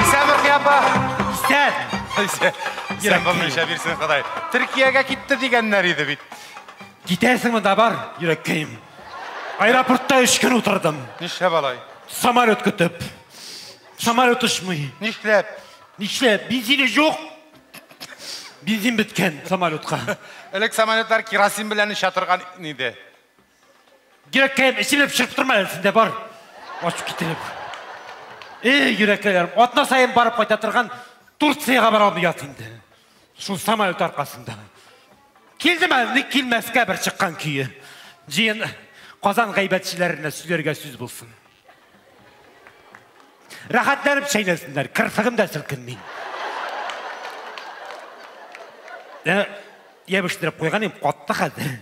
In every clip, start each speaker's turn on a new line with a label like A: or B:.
A: Исән Рухи апа! Исән! Исән булмыйча бирсен Ходай. Төркиягә китте дигәннәр иде бит. Китәсеңме
B: да бар, йөрәккәем. Аэропортта өч көн утырдым. Нишләп алай?
A: Самолет көтеп.
B: Самолет очмый. Нишләп?
A: Нишләп? Бензине
B: юк. Бензин беткән самолетка. Элек самолетлар
A: керосин белән оча торган иде.
B: Йөрәккәем эчелеп чыгып тормы әле синдә бар. Ачып китереп. Эй, йөрәкләрем, атна саен барып кайта торган Турцияга бара алмыйяс инде. Шул самолет аркасында. Килдем әле, ник килмәскә бер чыккан көе. Җыен Казан гайбәтчеләренә сөйләргә сүз булсын. Рәхәтләнеп чәйнәсеннәр, кырсыгым да селкенми. Ә, ябештырып куйган им, катты хәзер.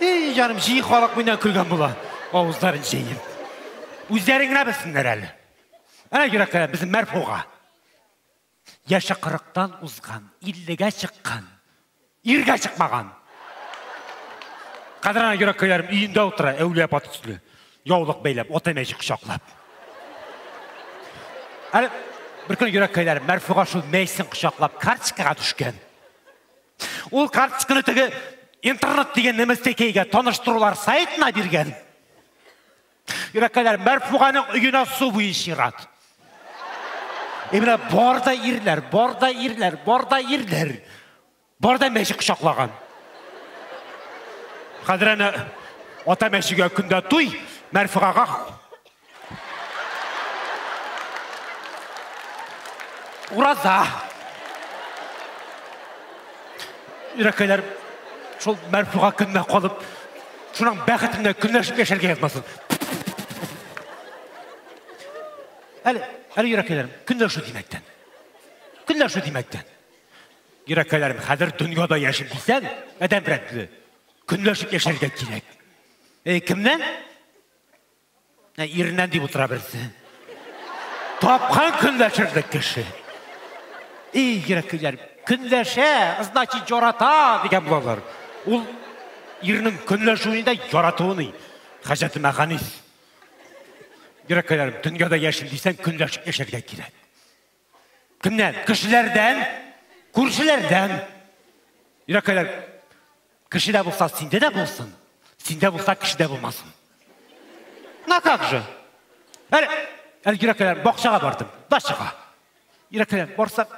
B: Эй, җаным, җи халык миннән көлгән була. Авызларын җәйем. Үзләре генә белсеннәр әле. Әнә йөрәкләр безнең мәрфуга. Яше кырыктан узган, иллегә чыккан, иргә чыкмаган. Хәзер ана йөрәк көйләрем өендә утыра, әүлия апа төсле. Яулык бәйләп, ата мәҗи кочаклап. Әле бер көн йөрәк көйләрем Мәрфуга шул мәйсен кочаклап карточкага төшкән. Ул карточканы теге интернет дигән нәмәстәкәйгә таныштырулар сайтына биргән. Йөрәккәләр, Мәрфуганың өенә су буе чират. И менә бар да ирләр, бар да ирләр, бар да ирләр. Бар да мәче кочаклаган. Хәзер әнә ата мәчегә көндә туй, Мәрфугага Ураза. Йөрәккәләр, шул Мәрфуга көненә калып, Шуның бәхетенә көнләшеп яшәргә язмасын. Әле, әле йөрәкәйләрем, көнләшү димәктән. Көнләшү димәктән. Йөрәкәйләрем, хәзер дөньяда яшим дисәң, адәм белән көнләшеп яшәргә кирәк. Э, кемнән? Ә иреннән дип утыра берсе. Тапкан көнләшерлек кеше. И, йөрәк көйләр. Көнләшә, значит, ярата дигән булалар. Ул ирнең көнләшүендә яратуыны. Хәҗәте мәханис. Йөрәк көйләр, дөньяда яшим дисәң, көнләшеп яшәргә кирәк. Кемнән? Кешеләрдән, күршеләрдән. Йөрәккәләр, кешедә булса, синдә дә булсын, синдә булса, кешедә булмасын. На как же? Әле, әле йөрәккәләр, бакчага бардым, дачага. Йөрәккәләр, барсам,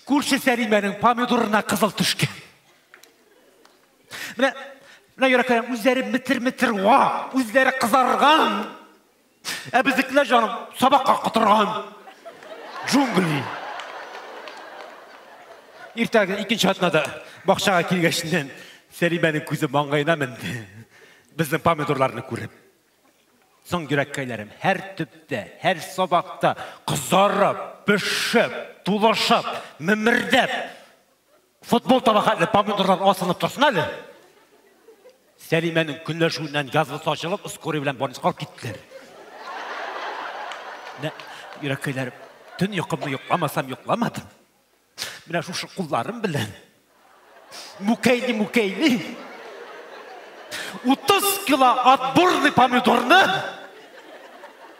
B: күрше Сәлимәнең помидорына кызыл төшкән. Менә, менә йөрәккәләр, үзләре метр-метр ва, үзләре кызарган. Ә безнекеләр җаным сабакка котырган. Джунгли. Иртәгә икенче атнада бакчага килгәчтен Сәлимәнең күзе маңгаена менде. Безнең помидорларны күреп. Соң йөрәккәйләрем һәр төптә, һәр сабакта кызарып, пешеп, тулышып, мемердәп Футбол таба хәтле помидорлар асылып торсын әле. Сәлимәнең көнләшүеннән газлы сачылып, скорый белән больницага алып киттеләр. Йөрәккәйләр, төн йокымны йокламасам йокламадым. Менә шушы кулларым белән мүкәйли мүкәйли 30 кило отборный помидорны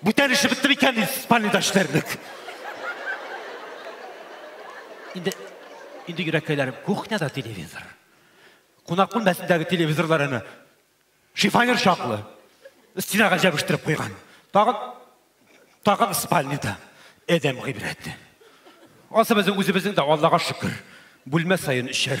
B: Бүтән эше бетте микән Испаниядә эшләрлек? Инде инде йөрәкәйләрем кухняда телевизор. Кунак бүлмәсендәге телевизорлар әнә шифонер чаклы. Стенага җәбештереп куйган. Тагын тагын спальнида Эдем гыйбрәте. Асы безнең үзебезнең дә Аллага шөкер. Бүлмә саен өчәр.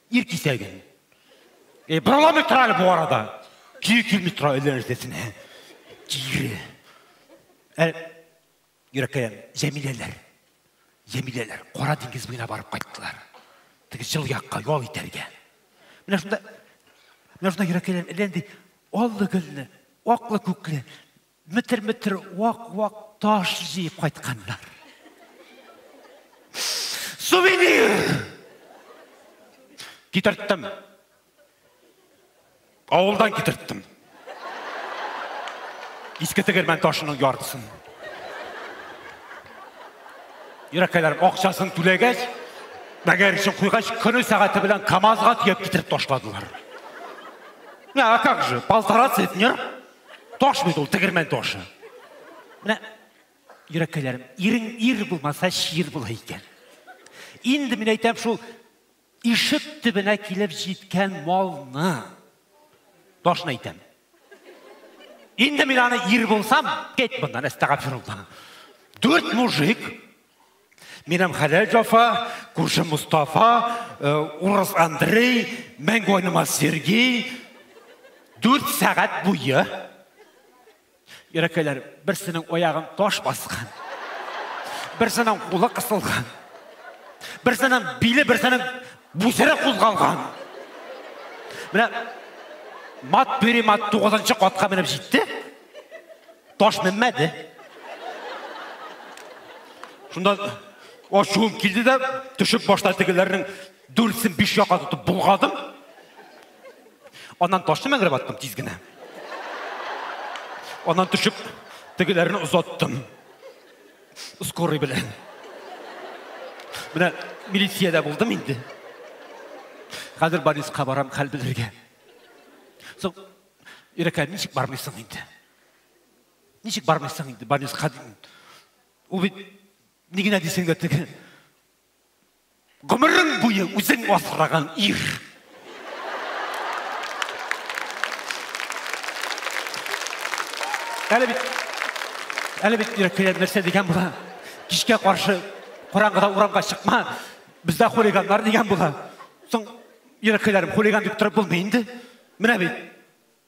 B: Ир кисәге. Э, Бороламый тора әле бу арада. Көе килми тора әллә нәрсәсенә. Кире. Ә, Йөрәккәем, Җәмиләләр. Җәмиләләр Кара диңгез буена барып кайттылар. Теге җыл якка ял итәргә. Менә шунда менә шунда йөрәккәем әллә нинди аллы гөлле, аклы күкле Метр-метр вак-вак таш җыеп кайтканнар. Сувенир! Китерттем. Авылдан китерттем. Иске тегермән ташының яртысын. Ирәкәйләрем акчасын түләгәч, мәгәр өчен куйгач, көне сәгате белән КАМАЗга төяп китереп ташладылар. А как же, полтора центнер. Таш бит ул, тегермән ташы. Менә йөрәккәйләрем, ирең ир булмаса, чир була икән. Инде мин әйтәм шул ишек төбенә килеп җиткән малны ташны әйтәм. Инде мин аны ир булсам, кет моннан, әстәгафирулла. Дүрт мужик Минем хәләл Җафа, күрше Мустафа, э, урыс Андрей, мәңге айнымас Сергей. Дүрт сәгать буе. Ерәкәйләр, берсенең аягын таш баскан. Берсенең кулы кысылган. Берсенең биле, берсенең бүсере кузгалган. Менә мат бери мат 9 катка менеп җитте. Таш менмәде. Шунда ашуым килде дә, төшеп башта тегеләрнең дүртсен биш якка тотып булгадым. Аннан ташны мәңгерәп аттым тиз генә. Аннан төшеп тегеләрне озаттым. Скорый белән. Менә милициядә булдым инде. Хәзер Борисқа барам хәл белергә. Соң, Ирәкә, ничек бармыйсың инде? Ничек бармыйсың инде больницага дим. Ул бит ни генә дисең дә теге гомерең буе үзең асраган ир. Әле бит әле бит йөрәккә нәрсә дигән була. Кичкә каршы караңгыда урамга чыкма. Бездә хулиганнар дигән була. Соң йөрәккәләрем хулиган дип торып булмый инде. Менә бит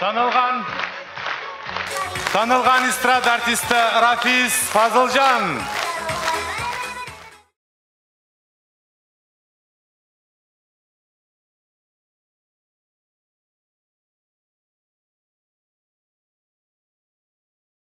A: Танылган Танылган эстрада артисты Рафис Фазылжан.